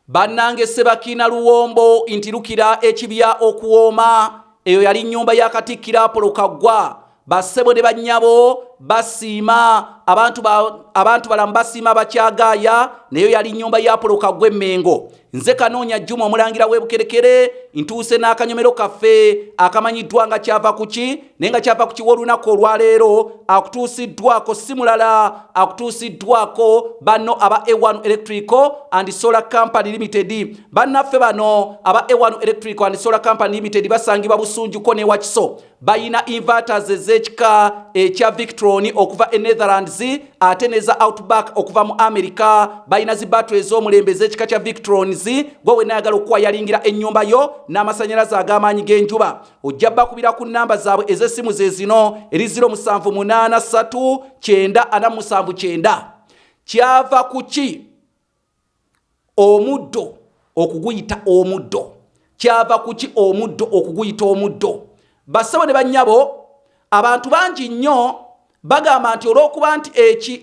Bannange Ssebakiina Luwombo nti lukira ekibya okuwooma, eyo yali nnyumba ya Katikkiro Apolo Kaggwa. Bassebo ne bannyabo basiima, abantu ba, abantu balamu basiima abakyagaaya, nayo yali nnyumba ya Apolo Kaggwa Emmengo. Nze Kanoonya Juma omulangira w'e Bukerekere, ntuuse n'akanyomero kaffe akamanyiddwa nga kyava ku ki naye nga kyava ku kiwolunaku olwaleero akutuusiddwako si mulala akutuusiddwako banno aba a1 electrical and solar company limited bannaffe bano aba a1 electrical and solar company limited basangibwa busunjuko newakiso bayina inverters ez'ekika ekya victron okuva e netherlands ate neza outback okuva mu america bayina zi batto ez'omulembe ez'ekika kya victrons gwe wenayagala okukwayalingila ennyumba yo n'amasanyalaze ag'amaanyi g'enjuba ojja bakubira ku namba zaabwe ez'essimu ze zino eri 07839479 kyava ku ki omuddo okuguyita omuddo kyava ku ki omuddo okuguyita omuddo bassebo ne bannyabo abantu bangi nnyo Bagamba nti olw'okuba nti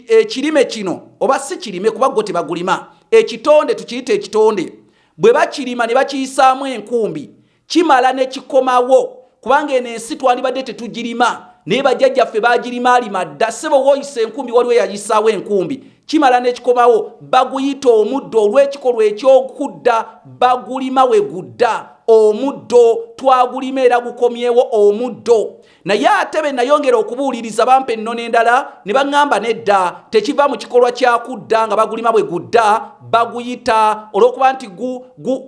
ekirime kino oba si kirime kuba gwo tebagulima ekitonde tukiyita ekitonde bwe bakirima ne bakiyisaamu enkumbi kimala ne kikomawo kubanga eno ensi twalibadde tetugirima naye bajjajjaffe bagirimaalima dda ssebo wooyisa enkumbi waliwo eyayisaawo enkumbi kimala ne kikomawo baguyita omuddo olw'ekikolwa eky'okudda bagulima we gudda omuddo twagulima era gukomyewo omuddo naye ate be nayongera okubuuliriza bampa ennono endala ne baŋŋamba nedda tekiva mu kikolwa kya kudda nga bagulima bwe gudda baguyita olw'okuba nti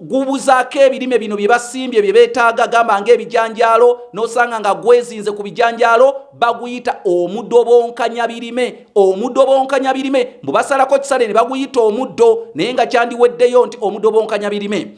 gubuzaako ebirime bino bye basimbye bye beetaaga gamba ng'ebijanjaalo n'osanga nga gwezinze ku bijanjaalo baguyita omudobonkanya birime omudobonkanya birime mbu basalako kisale ne baguyita omuddo naye nga kyandiweddeyo nti omudobonkanya birime